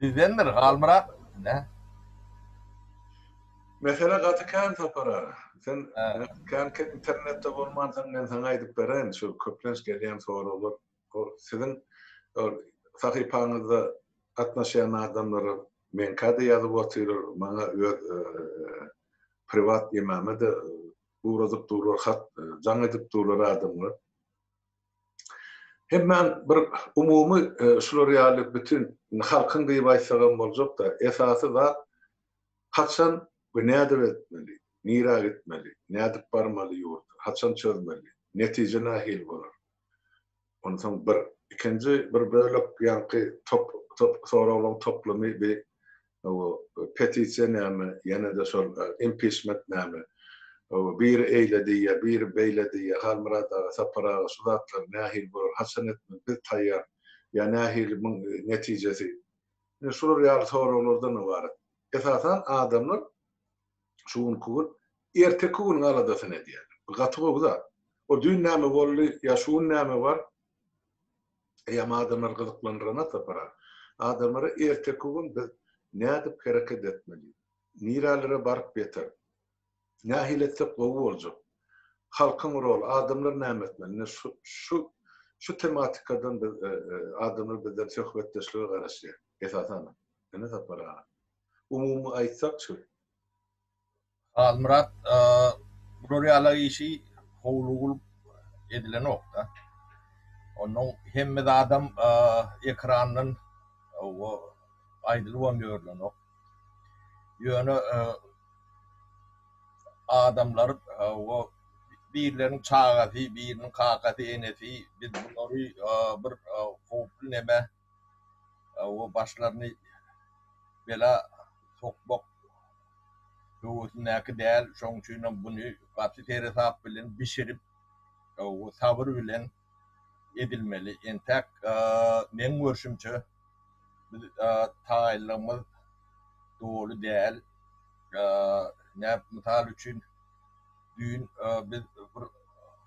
Sizdendir Halmyrat nä? Mesele gaty kän Sapara. Sen känki internetde bolmansyň men saňa aýdyp bereýin şu köplenç gelýän soraglar o siziň sahypaňyzda gatnaşýan adamlara meňkäde ýazyp otyrar maňa öz priwat emamede ugradyp durlar hat jaň edip durlar adamlar. Hemmäň bir umumy şular ýaly bütin halkyň diýip aýtsagam boljak-da, esasy zat haçan we nädip etmeli, nirä gitmeli, nädip barmaly ýurda, haçan çözmeli, netije nähili bolar? Onsoň bir ikinji bir bölek ýaňky soraglaryň toplumy bi Hawa petisiýa näme ýenede şol impiçment näme hawa biri eýle diýýä biri beýle diýýä Halmyrat aga Sapar aga şu zatlar nähili bolar haçan etmeli biz taýýar ýa nähili muň netijesi ine şular ýaly soraglardan ybarat esasan adamlar şu günki gün erteki günüň aladasyny edýärler bu gaty gowy zat o düýn näme boldy ýa şu gün näme bar Eýýäm adamlary gyzyklandyrana sapara. Adamlara erteki gün biz nädip hereket etmeli? Nirälere baryp ýeter? Nähili etsek gowy boljak? Halkyň roly, adamlar näme etmeli? Ine şu şu şu tematikadan biz adamlar bizden söhbetdeşlige garaşýar. Esasanam. Ine Sapar aga. Umumy aýtsak şu. Halmyrat bular ýala işi howly bolup edilenokda. Onuň hemme zadam ekrandan aýdylybam ýörlenok. Ýöne adamlar birleriň çagasy, biriniň kakasy, enesi biz bulary bir howply neme o başlaryny bela sokmak höwesindäki däl. Şonuň üçin hem buny gaty seresap bilen bişirip, o sabyr bilen edilmeli. Entäk meň görşümçe, biz taýynlygymyz doly däl. Näp, mysal üçin, düýn biz bir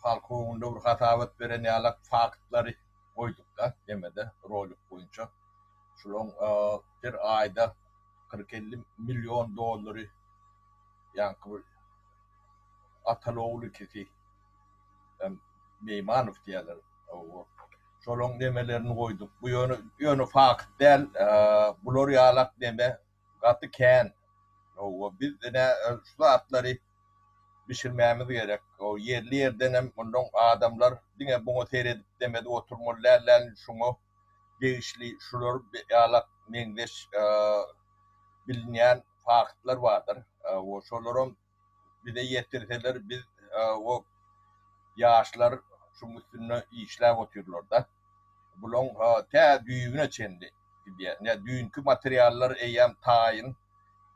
halk öňünde bir hasabat beren ýalak faktlary, goýdukda nemede rolik boýunça şolaň bir aýda kyrk elli million dollary ýaňky bir ataly ogul ikisi hem meýmanow diýýärler şolaň nemelerini goýduk bu ýöne fakt däl bular ýalak neme gaty kän. Hawa biz ine şu zatlary bişirmämiz gerek. O ýerli ýerdenem mundan adamlar diňe muňa seredip demedip oturmaly däl däl şuňa degişli şular ýalak meňzeş bilinýän faktlar bardyr. Hawa şolaram bize ýetirseler biz o ýaşlar şuň üstünde işläp otyrlarda. Bulaň tä düýbüne çenli gidýär. Ine düýnki materiallar eýýäm taýyn.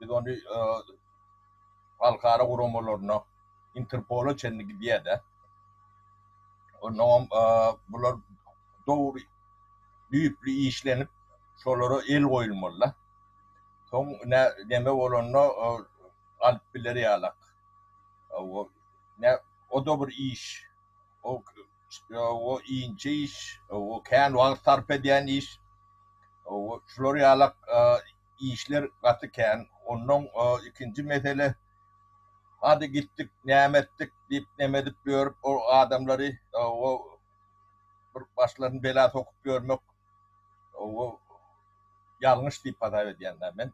Biz ony halkara guramalaryna, Interpola çenli gidýär-de. Onnoňam bular dogry düýpli işlenip, şolara el goýulmaly-da. Soň ine neme bolanda galyp biler ýalak. Hawa, nä, o-da bir iş. O, hawa, inçe iş, hawa, kän wagt sarp edýän iş. Hawa, şular ýalak işler gaty kän. Onnoň ikinji mesele, hady gitdik, näme etdik diýip, neme edip ýörüp, ol adamlary, hawa, bir başlaryny bela sokup ýörmek, hawa, ýalňyş diýip hasap edýän-dä men.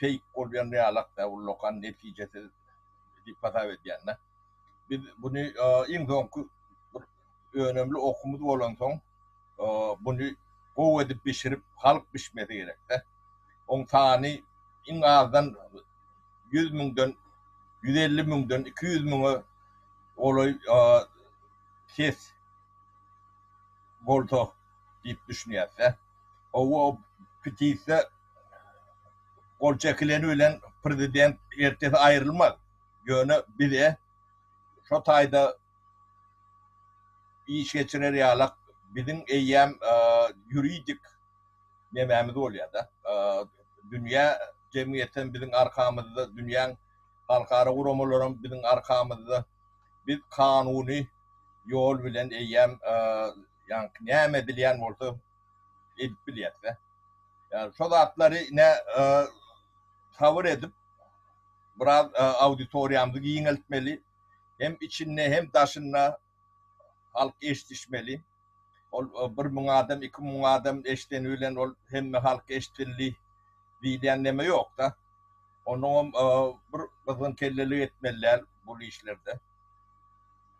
feýk bolýan realakda ullakan netijesiz diýip hasap edýände. Biz buny iň soňky bir önemli okumyz bolansoň buny gowy edip bişirip halk bişmesi gerekde. Oň sany iň azdan ýüz müňden ýüz elli müňden iki ýüz müňe golaý ses bolsa diýip düşünýäsde. Hawa, o petisýa gol çekileni bilen prezident ertesi aýrylmaz. Ýöne bize şo taýda iş geçirer ýalak biziň eýýäm ýuridik nemämiz bolýar-da. Dünýä jemgyýeti hem biziň arkamyzda, dünýäň halkara guramalary hem biziň arkamyzda. Biz kanuny ýol bilen eýýäm Ýaňky näme bilýän bolsa edip bilýäs-dä. Ýa şo zatlary ine sabyr edip biraz auditoriýamyzy giňeltmeli. Hem içinde hem daşynda halk eşdişmeli. Ol bir müň adam, iki müň adam eşdeni bilen ol hemme halk eşdildi diýilýän neme ýok-da. Onuňam bir gyzgyn kellelik etmeli däl bul işlerde.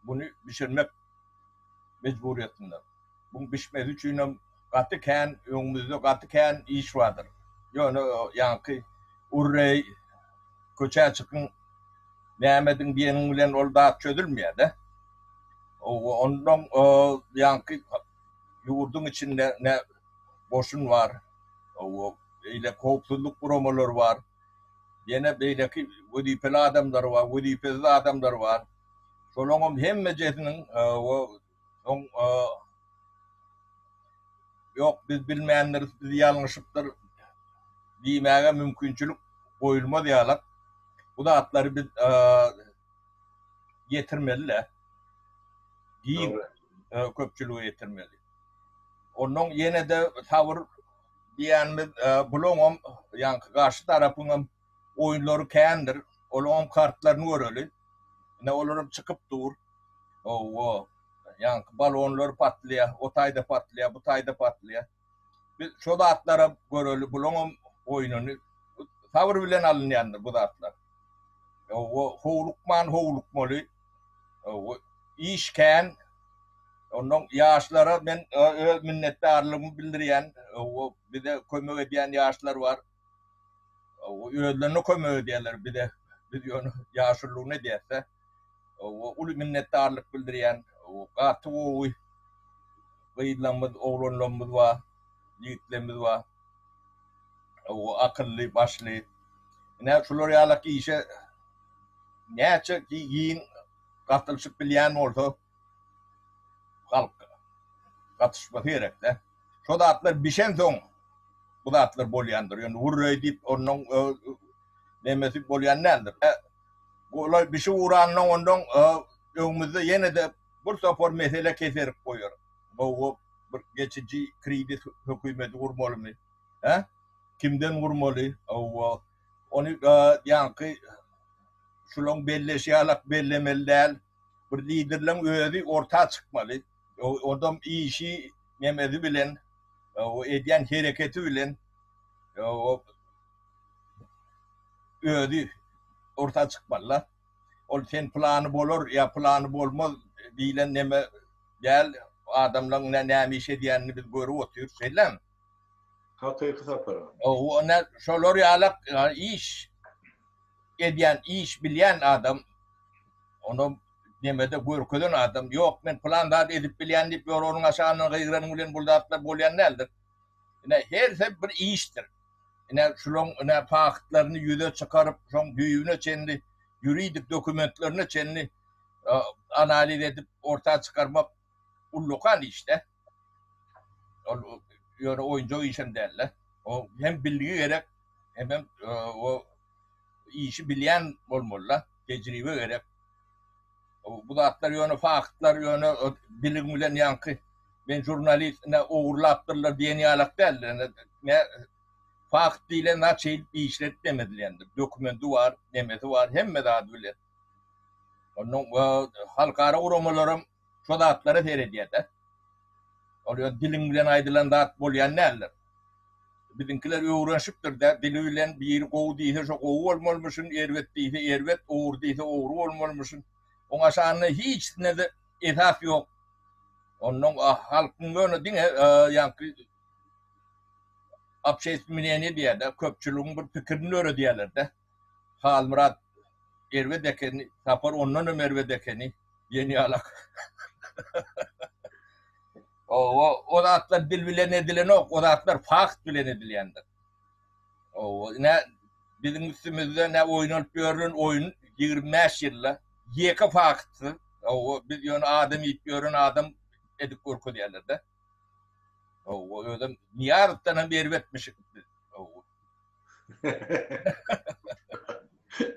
Buny bişirmek mejburiýetinde. Buň bişmesi üçinem gaty kän öňümizde gaty kän iş bardyr. Ýöne ýaňky urreý köçä çykyň näme ediň diýeniň bilen ol zat çözülmeýärde. Ondan ýaňky ýurduň içinde ne goşun bar, beýle howpsuzlyk guramalary bar, ýene beýleki wezipeli adamlar bar, wezipesiz adamlar bar. Şolaňam hemmejesiniň o soň ýok biz bilmändiris, biz ýalňyşypdyr diýmäge mümkinçilik goýulmaz ýalak. Bu zatlary biz ýetirmeli-de. Giň köpçülige ýetirmeli. Onnoň ýene-de sabyr diýýänimiz bulaňam ýaňky garşy tarapyňam Oýunlary kändir. Olaňam kartlaryny göreli. Ine olaram çykyp dur. Owo. Ýaňky balonlar patlaýar. O taýda patlaýar, bu taýda patlaýar. Biz şo zatlaram göreli. Bulaňam oýnuny sabyr bilen alynýandyr bu zatlar. Owo howlukman howlukmaly. Owo iş kän. Ondan ýaşlara men öz minnetdarlygymy bildirýän. Owo bize kömek edýän ýaşlar bar. özlerine kömek edýärler bize biz ýöne ýaşulygyna edýäsdä uly minnetdarlyk bildirýän gaty gowy gyzlarymyz oglanlarymyz bar ýigitlerimiz bar akylly başly ine şular ýalak işe näçe giň gatylyşyp bilýän bolsa halk gatyşmasy gerekdä Şo zatlar bişensoň bu zatlar bolýandyr. Ýöne wurreý diýip onuň nemesi bolýan däldir. Olay bişip ugrandan ondan öňümizde ýene-de bir topar mesele keserip goýar. Gowy bir geçiji kredit hökümeti gurmalymy? Hä? Kimden gurmaly? Hawa. Ony ýaňky şulaň belleşi ýalak bellemeli däl. Bir liderleň özi orta çykmaly. Odam işi nemezi bilen, o edýän hereketi bilen o özi orta çykmaly. Ol sen plany bolar ýa plany bolmaz diýlen neme däl. Adamlaryň näme iş edýänini biz görüp otyrys, şeýlemi? Hakyky sapar aga. Ýöne şolar ýaly iş edýän, iş bilýän adam onam nemede görkezen adam, ýok, men pylan zady edip bilýän diýip, ýolagynň aşagyndan gygyranyň bilen bul zatlar bolýan däldir. Ine, hersi bir işdir. Ine, şularyň ine faktlaryny ýüze çykaryp, şoň düýbüne çenli, ýuridik dokumentlerine çenli analiz edip, orta çykarmak ullakan işde. Ol ýöne oýunjak işem däldi. O hem bilgi gerek, hemem o işi bilýän bolmaly-da, tejribe gerek. Bu zatlar ýöne faktlar, ýöne bilim bilen ýaňky men žurnalist, ine ogurlapdyrlar diýen ýalak däl. Ine fakt diýlen zat şeýdip işledip demedilendir. Dokumenti bar, nemesi bar, hemme zady bilen. Ondan halkara guramalaram şo zatlara seredýär-de. Ol öz diliň bilen aýdylan zat bolýan däldir. Biziňkiler öwrenşipdir-dä, dili bilen biri gowy diýse şo gowy bolmalymyşyn, erbet diýse erbet, ogry diýse ogry bolmalymyşyn. Oňa şanda hiçnede esas ýok. Onnoň halkyň ýöne diňe ýaňky obşeýstw mneniýe diýýär-dä, köpçüligiň bir pikirini döredýärler-dä. Halmyrat erbet ekeni, Sapar ondan hem erbet ekeni, ýeni ýalak. Owo, o zatlar dil bilen edilenok, o zatlar fakt bilen edilýändir. Owo, nä biziň üstümizde nä oýnalyp ýörlen oýun ýigrimi bäş ýylda ýeke faktsyz, owo, biz ýöne adam iýip ýören adam edip görkezýärler-de. Owo, özem Nyýazowdan hem erbetmişik biz. Owo.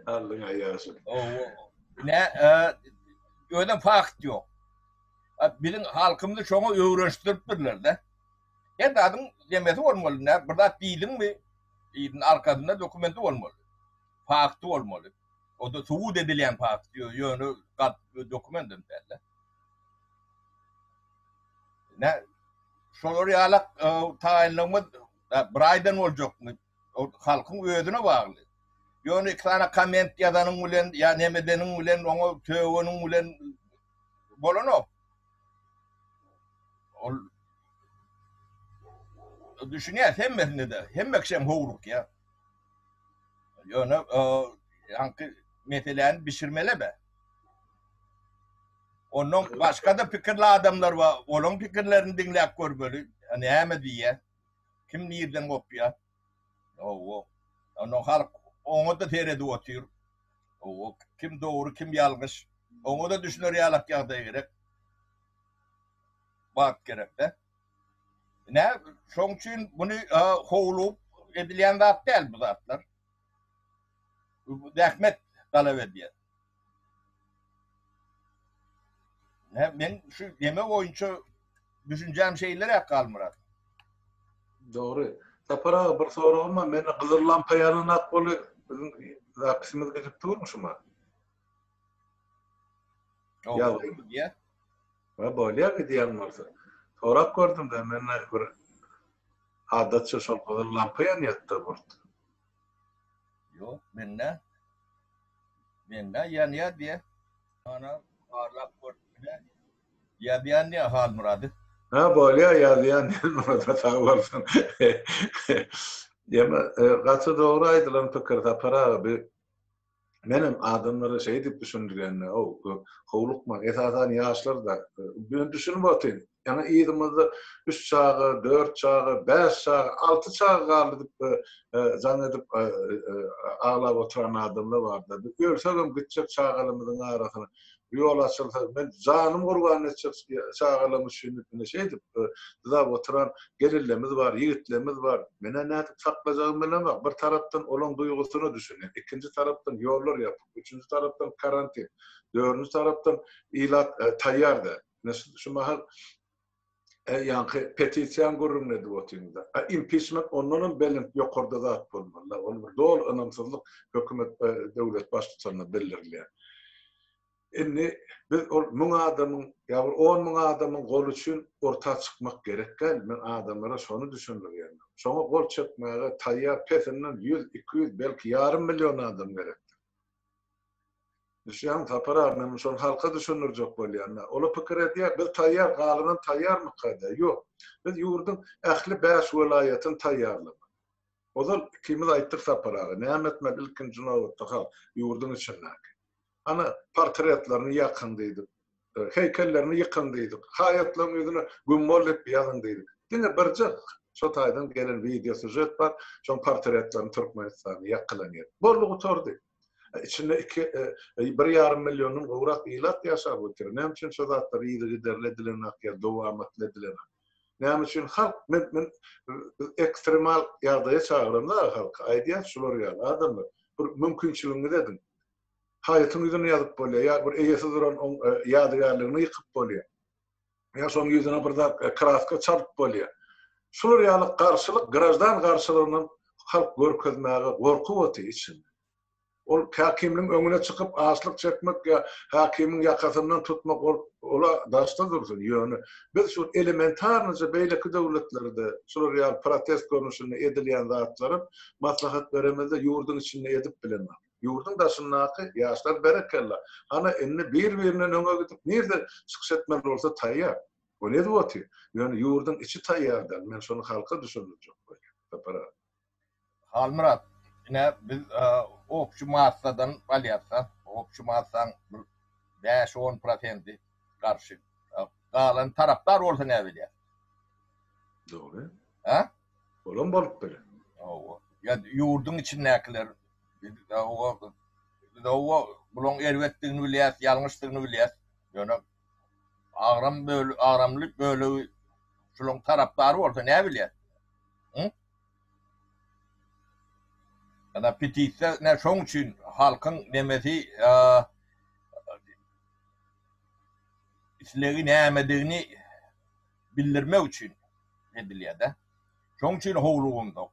Allyň aýaşyny. Owo. Ne, e, özem fakt ýok. A, Biziň halkymyzy şoňa öwrenişdiripdirler-de. Her zadyň demesi bolmaly, ne, bir zat diýdiňmi, ýeriň arkasynda dokumenti bolmaly. Fakty bolmaly. O-da subut edilýän fakt, ýö- ýöne gat dokument hem däl-de. Ne, şolar ýalak e, taýynlygymyz Bir aýdan boljakmy halkyň özüne bagly. Ýone iki sany komment ýazanyň bilen ýa neme edeniň bilen oňa tögeniň bilen bolanok. Ol düşünýän hemmesine de hemme kişem howluk ýa. Ýone ýaňky meseläni bişirmele be. Ondan başga-da pikirli adamlar bar. Olaryň pikirlerini diňläp görmeli. Näme diýýär? Kim nireden gopýar? Hawa. Ondan halk oňa-da seredip otyr. Hawa. Kim dogry, kim ýalňyş. Oňa-da düşüner ýalak ýagdaý gerek. Wagt gerek-dä. Ine, şonuň üçin muny howlugyp edilýän zat däl bu zatlar. Bu zähmet talap edýär. Men şu deme boýunça düşünjäm şeýleräk Halmyrat. Dogry. Sapar aga bir soragym bar. Mende gyzyl lampa ýananok boli biziň zapisimiz gidip durmy şuma? Ýa bolýa gidýän bolsa. Sorap gördüm de mende bir adatça şol gyzyl lampa ýanýatda burt. Ýok, mende. Mende ýanýar diýe. Ana, barlap görüp bile. Ýazýan diýe Halmyrady. Hä, bolýar, ýazýan Halmyrada sag bolsun. Ýöne gaty dogry aýdylan pikir Sapar aga. Menem adamlara şeý diýip düşündirýän-de, ow, howlukmaň, esasan ýaşlar-da, men düşünip otyryn, ýaňy yzymyzda üç çaga, dört çaga, bäş çaga, alty çaga galdy diýip jaň edip aglap oturan adamlar bar-da, biz ölsegem gitjek çagalarymyzyň arasyna, Ýol açylsa, men janym gurban etjek çagalaryň üçin diýip, ine, şeýdip, dyzap oturan gelinlerimiz bar, ýigitlerimiz bar. Men-ä nädip saklajagymy bilemok. Bir tarapdan olaryň duýgusyna düşünýän, ikinji tarapdan ýollar ýapyk, üçünji tarapdan karantin, dördünji tarapdan ilat taýýar däl. Ine, şu mahal Ýaňky petisiýany gürrüňini edip otyrmyzda. A impiçment ondanam belent, ýokarda zat bolmaly-la. Ol bir doly ynamsyzlyk hökümet, döwlet baştutanyna bildirilýär. Indi biz ol müň adamyň ýa bir on müň adamyň goly üçin orta çykmak gerek däl. Men adamlara şony düşündirýärin. Şoňa gol çekmäge taýýar pesinden ýüz, iki ýüz, belki ýarym million adam gerekdir. Düşýäňmi Sapar aga, men şony halka düşündirjek bolýan-da. Olar pikir edýär, biz taýýar, galanam taýýarmyka diýýär. Ýok. Biz ýurduň ähli bäş welaýatyny taýýarlamak. Ozal ikimiz aýtdyk Sapar aga, näme etmeli ilkinji nobatda halk, ýurduň içindäki. Ana, portretlerini ýakyň diýdik. heýkellerini ýykyň diýdik, haýatlaryň ýüzüne güm bolup ýazyň diýdik. Diňe birje şo taýdan gelen wideo sýužet bar, şoň portretlerini Türkmenistanda ýakylan ýer. Boldy gutardy. Içinde iki, bir ýarym milliondan gowrak ilat ýaşap otyr. Näme üçin şo zatlar yzygiderli edilenok ýa dowamatly edilenok? Näme üçin halk men men biz ekstremal ýagdaýa çagyranda halky aýdýas şular ýaly adamlar bir mümkinçiligiňizi ediň. haýytyň ýüzüni ýazyp bolýar, ýa bir eýesiz duran oň ýadygärligini ýykyp bolýar, ýa şoň ýüzüne bir zat kraska çalyp bolýar. Şular ýaly garşylyk, graždan garşylygynam halk görkezmäge gorkup otyr içinde. Ol häkimligiň öňüne çykyp açlyk çekmek ýa häkimiň ýakasyndan tutmak ol ola daşda dursun, ýöne biz şu elementarnyja beýleki döwletlerde şular ýaly protest görnüşinde edilýän zatlara maslahat beremizde ýurduň içinde edip bilenok. Ýurduň daşyndaky ýaşlar berekella, hany indi bir birinden öňe gidip nirde çykyş etmeli bolsa taýýar. Bu ne zwoty? Ýöne ýurduň içi taýýar däl, men şony halka düşündirjek bolýan. Sapar aga. Halmyrat, ine biz opşy massadan alýasda, opşy massaň bir bäş on prosendi garşy, galan tarapdar bolsa näbelýär? Dogry. Hä? Olam bolup biler. Hawa. Ýa ýurduň içindäkiler Biz oba bulaň erbetdigini bilýäs, ýalňyşdygyny bilýäs. Ýöne agram bölegi, agramly bölegi şulaň tarapdary bolsa näbilýäs? Hum? Ana petisiýa nä şoň üçin halkyň nemesi islegi nämedigini bildirmek üçin edilýär-de. Şoň üçin howlugymda.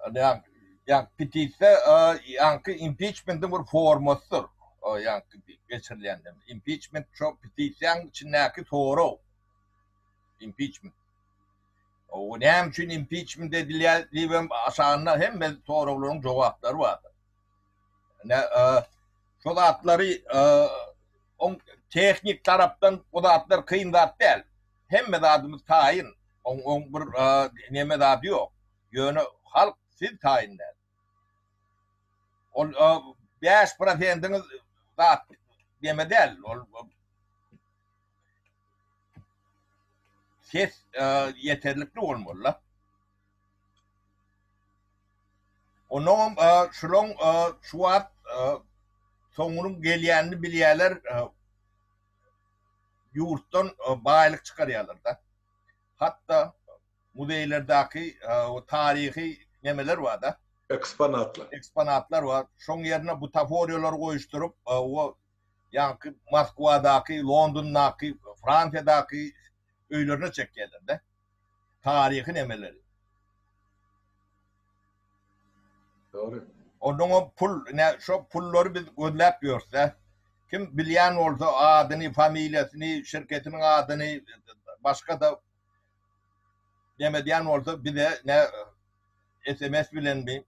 Ýaňky petisiýa ýaňky impiçmentiň bir formasydyr. Ýaňky geçirilende impiçment şo petisiýanyň içindäki sorag. Impiçment. O näme üçin impiçment edilýär diýip hem aşagynda hemme soraglaryň jogaplary bardyr. Ine şo zatlary oň tehnik tarapdan o zatlar kyn zat däl. Hemme zadymyz taýyn. Oň bir neme zady ýok. Ýöne halk siz taýyn däl. Ol bäş prosendiňiz zat neme däl. Ol ses ýeterlikli bolmaly-la. Onuňam şulaň şu wagt soňunyň gelýänini bilýärler. ýurtdan baýlyk çykarýarlar-da. Hatda muzeýlerdäki taryhy nemeler bar-da. Eksponatlar. Eksponatlar bar. Şoň ýerine butaforiýalary goýuşdyryp, o ýaňky Moskwadaky, Londondaky, Fransiýadaky öýlerine çekýärler-de. taryhy nemeleri. Dogry. Onuň o pul, ine şo pullary biz gözläp ýörsä, kim bilýän bolsa adyny, familiýasyny, şirketiniň adyny, başga-da neme edýän bolsa bize ne sms bilenmi,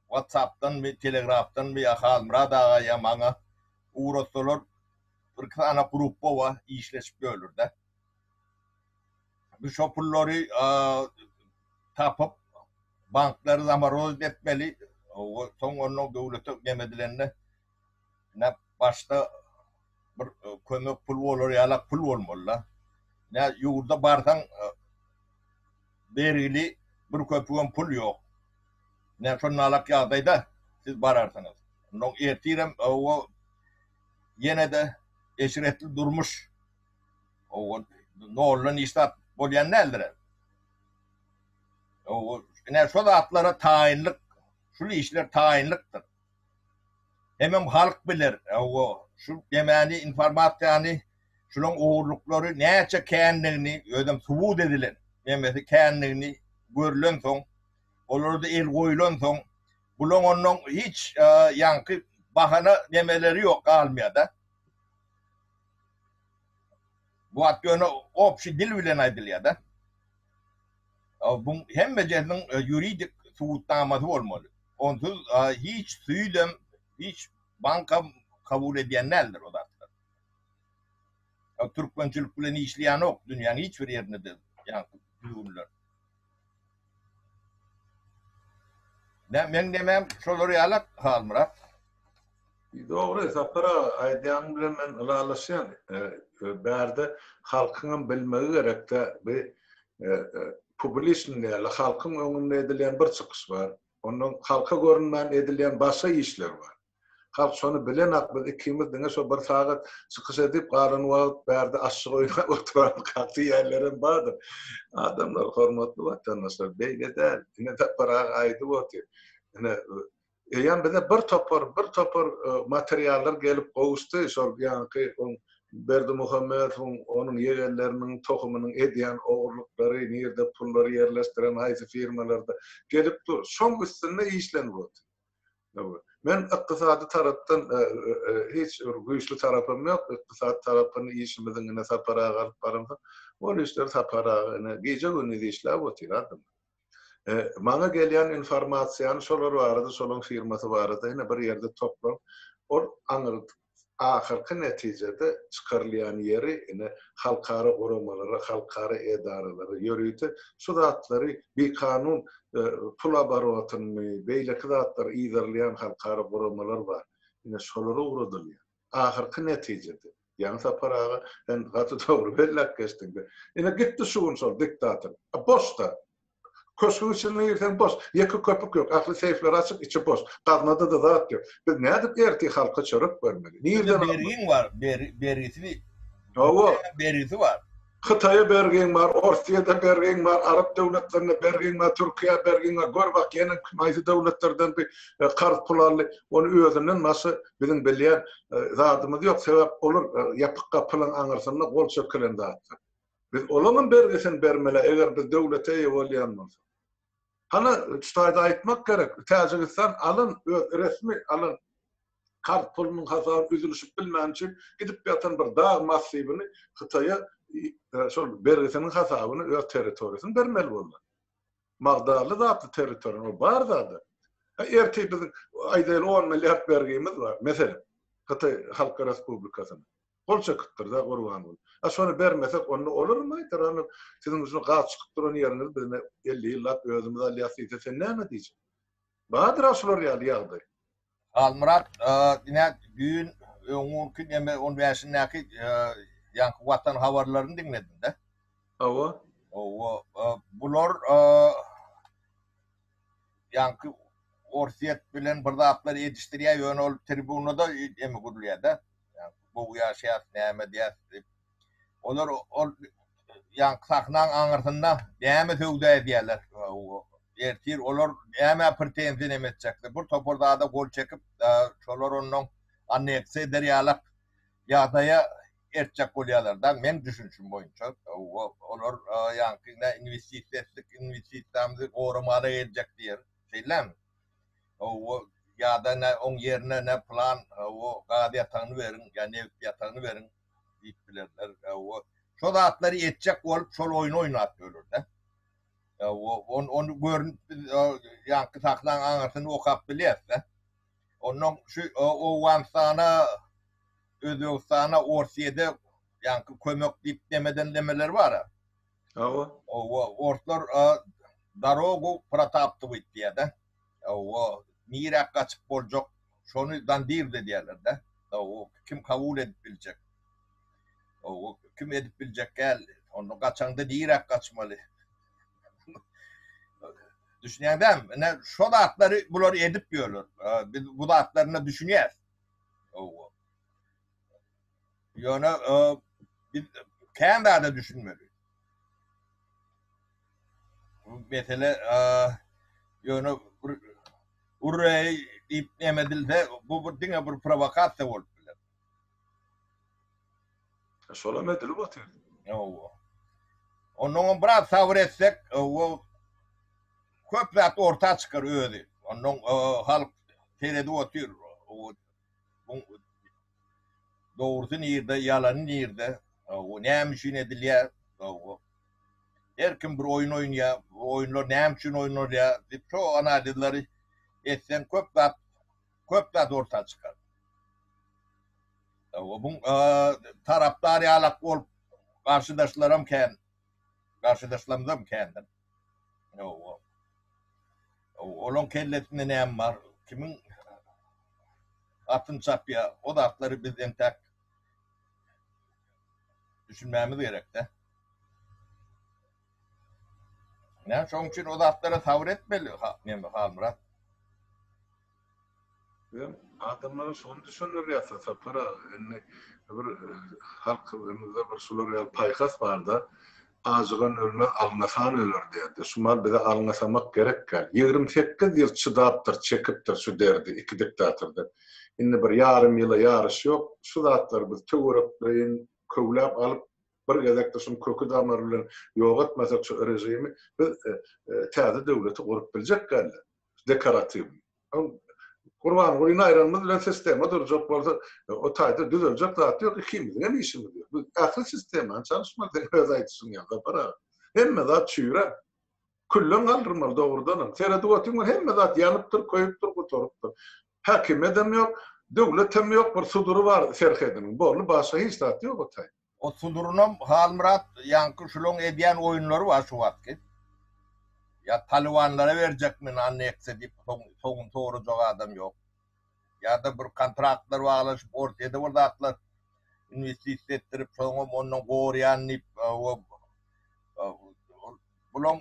WhatsApp-danmy, Telegraf-danmy ýa Halmyrat aga ýa maňa ugratsalar, birki sany grupba bar, işleşip bölürde. Biz şo pullary tapyp, banklary zamorozit etmeli. Soň onnoň döwlete nem edilende, ine, başda bir kömek pul bolar ýalak pul bolmaly-da. Ine, ýurda barsaň, bergili bir köpügem pul ýok. Ine, şonalak ýagdaýda siz bararsyňyz. Onnoň ertirem ýene-de eşretli durmuş. noldan işläp bolýan däldir. Ine şo zatlara taýynlyk, şul işler taýynlykdyr. Hemem halk biler, şu demani informasiýany, şunuň ogurlyklary näçe kändigini, özem subut edilen nemesi kändigini görlensoň, olarda el goýlansoň, bulaň onnoň hiç ýaňky bahana nemeleri ýok, galmaýar-da. Bu at ýöne obşi dil bilen aýdylýar-da. Buň hemmejesiniň ýuridik subutnamasy bolmaly. Onsuz hiç süýdem, hiç bankam kabul edýän däldir o zatlary. Türkmençilik bilen işleýänok dünýäň hiç bir ýerinde-de ýaňky düzgünler. Näme meň demem şolar ýaly Halmyrat. Dogry Sapar aga aýdýanyň bilen men ylalaşýan bärde halkyňam bilmegi gerekdä bi publiçnyý ýaly halkyň öňünde edilýän bir çykyş bar ondan halka görünmän edilýän başga işler bar. Halk şony bilenak biz ikimiz diňe şo bir sagat çykyş edip galan wagt bärde aşşyk oýnap oturanokak diýýänlerem bardyr. Adamlar hormatly watandaşlar beýle däl. Ine Sapar aga aýdyp otyr. Ine eýýäm bize bir topar bir topar materiallar gelip gowuşdy şol ýaňky oň Berdimuhamedowyň onuň ýegenleriniň tohumynyň edýän ogurlyklary nirde pullary ýerleşdiren haýsy firmalarda gelip dur. Şoň üstünde işlenip otyr. Men ykdysady tarapdan hiç bir güýçli tarapym ýok. Ykdysady tarapynda işimiziň ine Sapar aga alyp baransoň, ol işleri Sapar aga ine gije-gündiz işläp otyr adam. Maňa gelýän informasiýany şolar barada, şolaň firmasy barada ine bir ýerde toplaryp, ol aňyrdy. ahyrky netijede çykarylýan ýeri ine halkara guramalara, halkara edaralara, ýörite şu zatlary bikanun pul oborotyny, beýleki zatlary yzarlaýan halkara guramalar bar. Ine şolara ugradylýar. Ahyrky netijede. Ýaňy Sapar aga sen gaty dogry belläp geçdiň. Ine gitdi şu gün şol diktator. A boş zat. Köşgüň içine girseň boş. Ýeke köpük ýok. Ähli seýfler açyk, içi boş. Gaznada-da zat ýok. Biz nädip ertir halka çörek bermeli? Nirden almaly? Bize bergiň bar, bergisini. Hawa. Bergisi bar. Hytaýa bergiň bar, Orsiýada bergiň bar, arap döwletlerine bergiň bar, Türkiýä bergiň bar. Gör bak, ýene kim haýsy döwletlerden bir karz pul aldy. Ony özünden başga biziň bilýän zadymyz ýok. Sebäp olar ýapyk gapylaryň aňyrsynda gol çekilen zatlar. Biz olaňam bergisini bermeli eger biz döwlete eýe bolýan bolsak. Hany şu taýda aýtmak gerek, Täjigistan alyn öz resmi alyn kart pulunyň hasaby üzülişip bilmän üçin gidip ýatan bir dag massiwini Hytaýa şol bergisiniň hasabyny öz territoriýasyny bermeli boldy. Magdarly zatly territoriýa ol bar zady. Ha ertir biziň aýdaýly on milliard bergimiz bar. Meselem Hytaý Halk Respublikasyna. Gol çekipdirda gurban bolup. A şony bermesek onda olarmy aýtar ony siziň üçin gaz çykyp duran ýeriňizi biz ine elli ýyllap özümiz alýas diýse sen näme diýjek. Bardyr-a şular ýaly ýagdaý. Halmyrat ine düýn öňňunki neme on bäşindäki ýaňky watan habarlaryny diňledimde. Hawa. Hawa bular ýaňky Orsýet bilen bir zatlar edişdirýär ýöne ol tribunada neme gürlýärde. Gowy ýaşaýas, näme edýäs diýip. Olar ol ýaňky sahnaň aňyrsynda näme söwda edýärler. Ertir olar nämä pretenziýa näme etjekler. Bir topar zada gol çekip, şolar onnoň anneksiýa eder ýalak ýagdaýa eltjek bolýarlar daň, meň düşünişim boýunça. Olar ýaňky investisiýa etdik, inwestisiýamyzy goramaga geljek diýer. Şeýdilemi? Hawa, ýa-da nä oň ýerine nä plan, hawa, gaz ýatagyny beriň, ýa nebit ýatagyny beriň diýip bilerler. Hawa, şo zatlary etjek bolup şol oýny oýnap ýörler-dä. Hawa, on ony görüp biz ýaňky sahnaň aňyrsyny okap bilýäs-dä. Onnoň şu Owganystana, Özbegistana, Orsýede ýaňky kömek diýip dem edenlemeleri bar-a. Hawa. Hawa, orslar darogu protabtywit diýýär-dä. Hawa, nirä gaçyp boljak, şony dandirz edýärler-dä. Hawa, kim kabul edip biljek? Hawa, kim edip biljek gel, onda gaçaňda nirä gaçmaly? Düşünýäňdämi? Ine, şo zatlary bular edip ýörler. Biz bu zatlaryna düşünýäs. Hawa. Ýöne biz kän zada düşünmeli. Bu mesele ýöne bir urreý diýip näme edilse, bu bir diňe bir prowokasiýa bolup biler. Şolam edilip otyr. Hawa. Onnoňam biraz sabyr etsek, o köp zat orta çykar özi. Onnoň halk seredip otyr. Bu Dogrusy nirde, ýalany nirde, näme üçin edilýär? Her kim bir oýun oýnaýar. Bu oýunlar näme üçin oýnalýar? Diýip, şo analizleri etseň, köp zat, köp zat orta çykar. Bu tarapdar ýalak bolup, garşydaşlaram kän, garşydaşlarymyzam kändir. Ýok, ýok. Olaň kellesinde näme bar, kimiň atyny çapýar, o zatlary biz entäk düşünmämiz gerek-dä. Ine, şonuň üçin o zatlara sabyr etmeli Halmyrat. Sen adamlara şony düşündirýärsiň Sapar aga, indi bir halkymyzda bir şular ýaly paýhas barda, Ajygan ölmez, alňasan öler diýerdi. Şu maal bize alňasamak gerek däl. Ýigrimi sekiz ýyl çydapdyr, çekipdir şu derdi iki diktatordan. Indi bir ýarym ýyla ýaryş ýok. Şu zatlary biz töwerekleýin köwläp alyp, bir gezekde şuny köki damary bilen ýok etmesek şu režimi, biz täze döwleti gurup biljek däl-de. dekoratiw. Gurbangulyny aýranymyz bilen sistema durjak bolsa, o taýda düzeljek zat ýok, ikimiziň hem işimiz ýok. Biz ähli sistemany çalyşmaly, seniň öz aýdyşyň ýaly, Sapar aga. Hemme zat çüýrä. Külleň galdyrmaly, dogrudanam. Seredip otyň, bir hemme zat ýanypdyr, köýüpdir, gutarypdyr. Häkimiýedem ýok, döwletem ýok, bir sudury bar serhediniň, boldy, başga hiç zat ýok o taýda. O Sudurynam Halmyrat ýaňky şulaň edýän oýunlary bar şu wagtky. Ýa talybanlara berjekmi annekse diýip soň soňuny sorajak adam ýok. Ýa-da bir kontraktlar baglaşyp Orsyýede bir zatlar inwestisiýa etdirip soňam ondan gorýan diýip o bulaň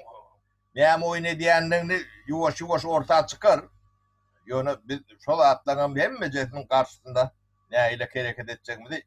näme oýun edýändigini ýuwaş-ýuwaş orta çykar. Ýöne biz şo zatlaňam hemmejesiniň garşysynda nähili kereket etjegimizi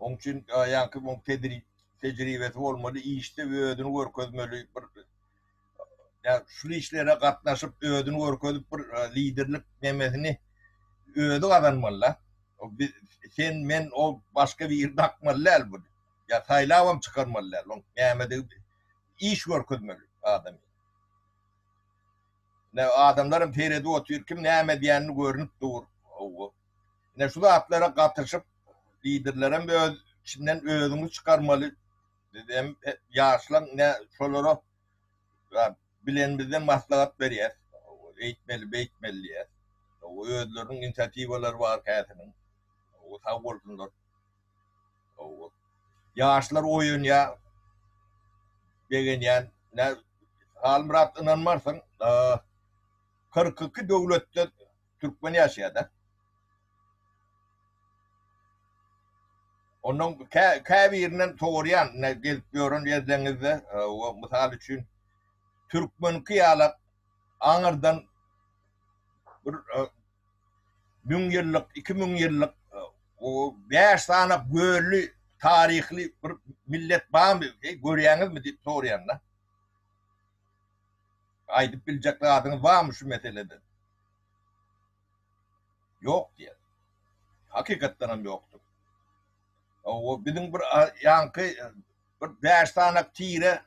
Oň üçin ýaňky oň tejribesi bolmaly, işde özüni görkezmeli, bir şul işlere gatnaşyp özüni görkezip bir liderlik nemesini özi gazanmaly da. Biz sen men o başga biri dakmaly däl bun. Ýa saýlabam çykarmaly däl. Oň nämedigi iş görkezmeli adam. Näme adamlaram seredip otyr kim näme edýänini görnüp dur. Ine şu zatlara gatyşyp liderlerem öz içinden özüňiz çykarmaly biz hem ýaşlaň ine şolara bilenimizden maslahat berýäs eýtmeli beýtmeli diýýäs özleriniň inisiatiwalary bar käsiniň sag bolsunlar ýaşlar oýanýa begenýän Halmyrat ynanmarsyň kyrk iki döwletde Türkmen ýaşaýar da. Ondan käbirinden sorýan, gelip gören ýerleriňizde, e, mysal üçin türkmenki ýaly aňyrdan bir e, müň ýyllyk, iki müň ýyllyk e, o bäş sany gölli taryhly bir millet barmy? Görýäňizmi diýip sorýanda. Aýdyp biljek zadyňyz barmy şu meselede? Ýok diýýär. Hakykatdan hem ýokdur. Owo biziň bir ýaňky bir bäş sanak tire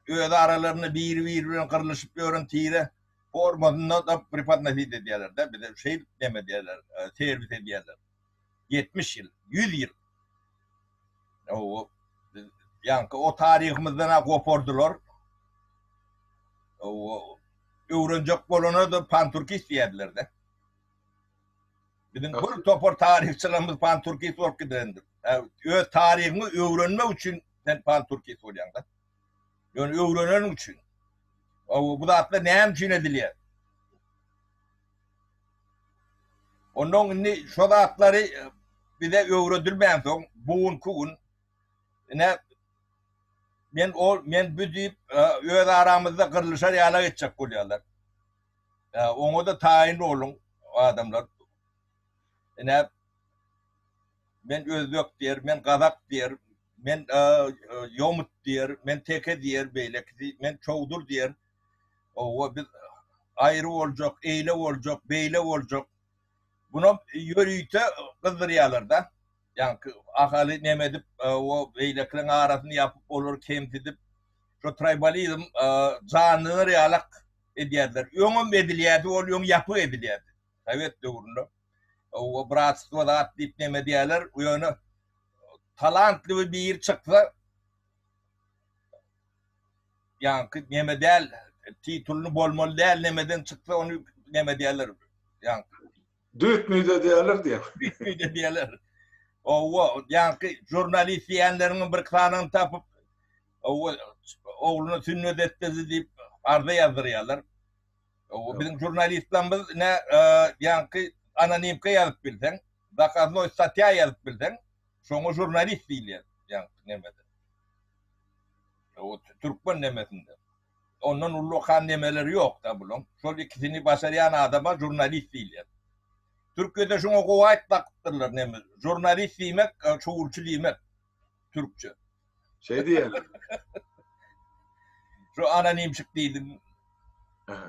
öz aralarynda biri biri bilen gyrlyşyp ýören tire formasynda da prepodnosit edýärler-de bize şeýdip neme diýýärler serwis edýärler. ýetmiş ýyl, ýüz ýyl. Owo, biz ýaňky o taryhymyzdan-a gopardylar. Owo, öwrenjek bolana-da panturka isleýärler-de. Biziň bir topar taryhçylarymyz panturkist bolup gidendir. Öz taryhyňy öwrenmek üçin sen panturkist bolýaň-da. Ýöne öwreneniň üçin. Owo, bu zatlar näme üçin edilýär? Onnoň indi şo zatlary bize öwredilmänsoň, bu günki gün ine men ol, men bu diýip öz aramyzda gyrlyşar ýala etjek bolýarlar. Oňa-da taýyn boluň adamlar. Ine men özbek diýer, men gazak diýer, men ýomut diýer, men teke diýer, beýlekisi men çowdur diýer. Owa biz aýry boljak, eýle boljak, beýle boljak. Bunam ýörite gyzdyrýarlar-da. Ýaňky Ahaly neme edip, owa beýlekileriň arasyny ýapyp, olary kemsidip, şo traýbalizm janlanar ýalak edýärdiler. Öňem edilýärdi, ol öň ýapyk edilýärdi. Sowet döwründe. Owa bratstwo zat diýip neme edýärler, ýöne talantly biri çyksa, Ýaňky neme däl titulny bolmaly däl nemeden çyksa ony neme diýerler ýaňky. Düýt müýde diýerler diýen. Düýt müýde diýerler. Owo ýaňky žurnalist diýenleriňiň bir sanyny tapyp owo ogluna sünnet etdirdi diýip arza ýazdyrýarlar. Owo biziň žurnalistlerimiz ne ýaňky anonimka ýazyp bilseň zakaznoi statýa ýazyp bilseň şoňa žurnalist diýilýär ýaňky nemede. Türkmen nemesinde. Ondan ullakan nemeleri ýokda bulaň. Şol ikisini başarýan adama žurnalist diýilýär. Türkiýede şoňa gowy aýt bakypdyrlar neme. Žurnalist diýmek şowulçy diýmek. Türkçe. Şeý diýeli. Şu anonimşik diýdim.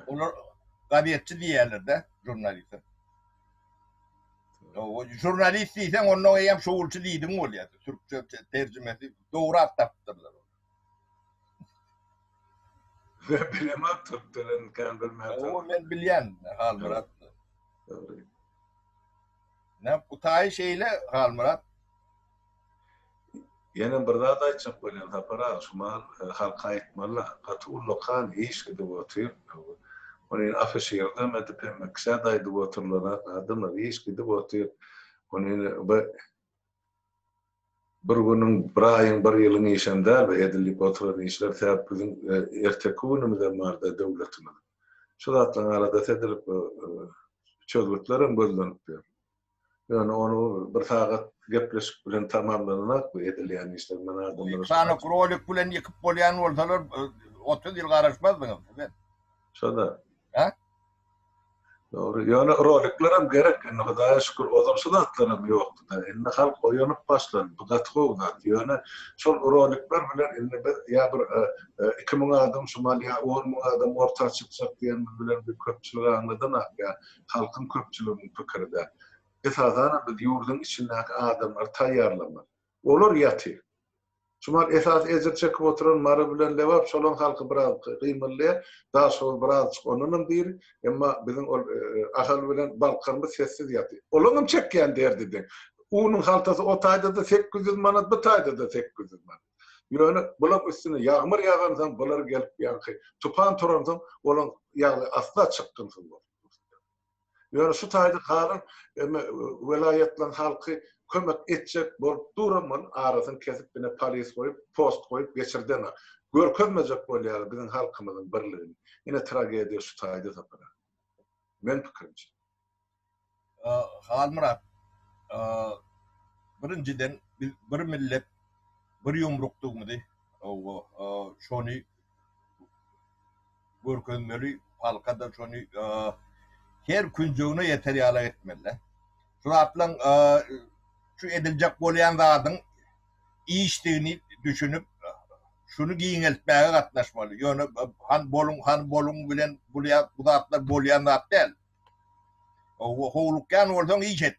Olar gazetçi diýerlerde žurnaliste. Žurnalist diýseň onda eýýäm şowulçy diýdiň bolýar. Türkçe terjimesi Dogry at tapypdyrlar. Ýa bilemok türkçelerini kän bilmän. Ýa men bilýän Halmyrat. Dogry. Ne gutaýy şeýle Halmyrat. Ýene bir zat aýtjak bolýan Sapar aga, şu mal e, halka aýtmaly, gaty ullakan iş gidip otyr. Ony afişir demedip hem kişä daýdyp otyrlar, adamlar iş gidip otyr. Ony bir Bir günüň, bir aýyň, bir ýylyň işem däl bu edilip oturan işler, sebäp biziň erteki günümizem barda döwletimiziň. Şu zatlaryň aladasy edilip çözgütlerem gözlenip ýör. Ýöne ony bir sagat gepleşik bilen tamamlananok bu edilýän işler. Men adamlara. Iki sany krolik bilen ýykyp bolýan bolsalar otuz ýyl garaşmazdyňyz siz hem. Şo-da. Hä? Dogry, ýöne roliklerem gerek, indi Hudaýa şükür ozal şu zatlaram ýokdy-da, indi halk oýanyp başlady, bu gaty gowy zat, ýöne şol rolikler bilen indi biz ýa bir iki müň adam şumal ýa on müň adam orta çykjak diýenimiz bilen biz köpçüligi aňladanok, ýa halkyň köpçüliginiň pikiri däl. Esasanam biz ýurduň içindäki adamlary taýýarlamaly. Olar ýaty. Şumal esasy ejir çekip oturan Mary bilen Lebap şolaň halky biraz gymyldaýar. Daşoguz birazjyk ondanam diri. Emma biziň ol Ahal bilen Balkarymyz sessiz ýaty. Olaňam çekýän derdi deň. Unuň haltasy o taýda-da sekiz ýüz manat, bu taýda-da sekiz ýüz manat. Ýöne bulaň üstüne ýagmyr ýagansoň, bular gelip ýaňky tupan turansoň, olaň ýagdaýy asla çykgynsyz bolup dur. Ýöne şu taýda galan welaýatlaryň halky kömek etjek bolup duram bol arasyny kesip ine polis goýup post goýup geçirdeňa görkezmejek bolýalar biziň halkymyzyň birligini ine tragediýa şu taýda sapar aga men pikirimçe. Halmyrat birinjiden biz bir millet bir ýumrukdygymyzy şony görkezmeli halka-da şony her künjegine ýeter ýala etmeli-dä. Şu zatlaryň şu ediljek bolýan zadyň işdigini düşünip şuny giňeltmäge gatnaşmaly. Ýöne han boluň han boluň bilen bu zatlar bolýan zat däl. Howlukýan bolsaň iş et.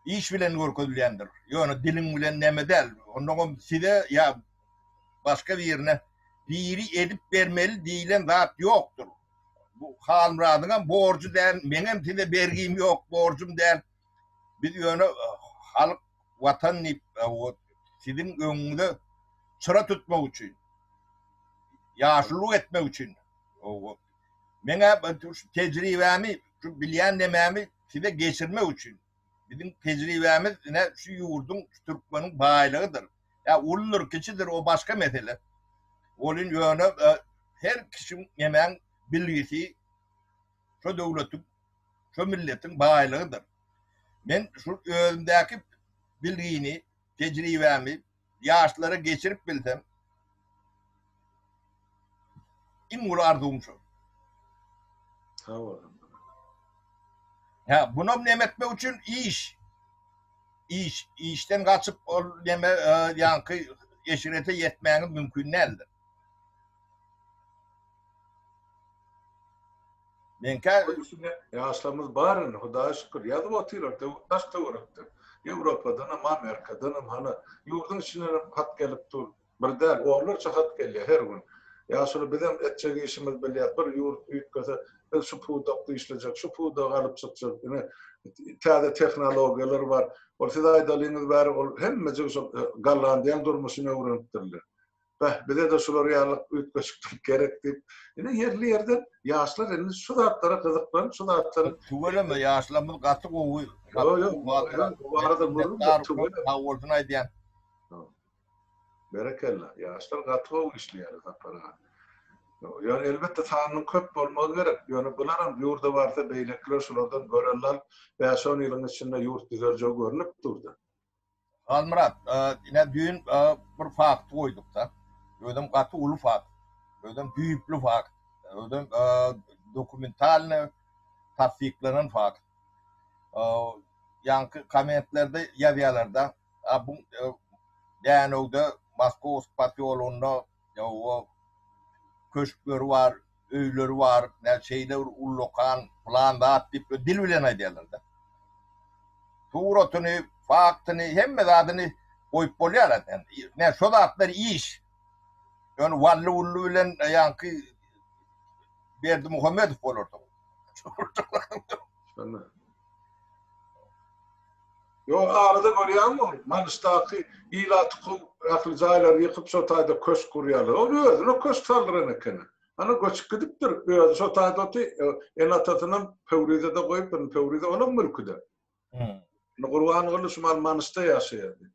Iş bilen görkezilýändir. Ýöne diliň bilen näme däl. Onnoňam size ýa başga birine biri edip bermeli diýilen zat ýokdur. Bu Halmyradyňam borjy däl, meňem size bergim ýok, borjum däl. Biz ýöne halk, watan diýip siziň öňüňize çyra tutmak üçin, ýaşulyk etmek üçin. Meň-ä şu tejribämi, şu bilýän-demärimi size geçirmek üçin. Biziň tejribämiz ine şu ýurduň, şu türkmeniň baýlygydyr. Ýa uludyr, kiçidir o başga mesele. Ol indi ýöne her kişiň, nemäň bilgisi şu döwletiň, şu milletiň baýlygydyr. Men şu özümdäki bilgini, tejribämi, ýaşlara geçirip bilsem iň uly arzuwym şo. Sag bol. Ha, bunam näme etmek üçin iş. Iş, işden gaçyp ol näme e, ýaňky eşirete ýetmäňiz mümkin däldir. Meňkä öýsüne ýaşlarymyz bar indi Hudaýa şükür ýazyp otyrar daş töwerekden Ýewropadanam Amerikadanam hany ýurdyň içindenem hat gelip dur bir däl onlarça hat gelýär her gün ýaşuly bizem etjek işimiz bilýär bir ýurt üýtgese biz şu pudakda işlejek şu pudagy alyp çykjak ine täze tehnologiýalar bar ol siz aýdalyňyz bäri ol hemmejik şol Gollandiýanyň durmuşyny öwrenipdirler. Beh, bize-de şular ýaly üýtgeşiklik gerek diýip, indi ýerli ýerden ýaşlar indi şu zatlara gyzyklanyp, şu zatlar Tüweleme, ýaşlarymyz gaty gowy. Ýok, ýok, bu barada, bu barada gürrüň tüweleme. Sag bolsun aýdýan. Berekella, ýaşlar gaty gowy işleýärler, Sapar aga. Ýöne elbetde sanynyň köp bolmagy gerek. Ýöne bularam ýurda barsa beýlekiler şulardan görelde alyp, bäş-on ýylyň içinde ýurt düzeljegi görnüp dur-da. Halmyrat, ine düýn bir fakty goýduk-da. Özem gaty uly fakt. Özem düýpli fakt. Özem dokumentalny tassyklanan fakt. Ýaňky kommentlerde ýazýarlar-da, a bu Dänewde, Moskowsk posýologynda Ýa-o, köşkleri bar, öýleri bar, näme şeýle bir ullakan, pylan zat diýip dil bilen aýdýarlar-da. Suratyny, faktyny, hemme zadyny goýup bolýar-a. Näme şo zatlar iş. Ýöne Wally-Wully bilen ýaňky Berdimuhamedow bolardy. Şonda. Ýokarda görýäňmi ol Manyşdaky ilaty kowup ähli jaýlary ýykyp şo taýda köşk gurýarlar. Ol özüne köşk saldyran ekeni. Ana göçüp gidipdir. Özi şo taýda oty ene-atasynam Pöwrizede goýupdyr. Indi Pöwrize olam mülküde. Indi Gurbanguly şumal Manyşda ýaşaýar diýip.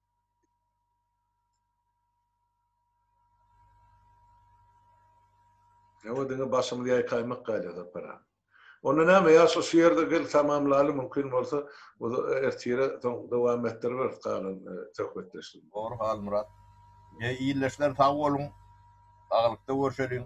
Ýa-da diňe başymyzy ýaýkaýmak gaýla Sapar-a. Onda näme, ýaşuly şu ýerde gel tamamlaly, mümkin bolsa, ertire soň dowam etdiriberis galan söhbetdeşligimizi. Dogry Halmyrat. Eý, ildeşler sag boluň. Saglykda görşeliň.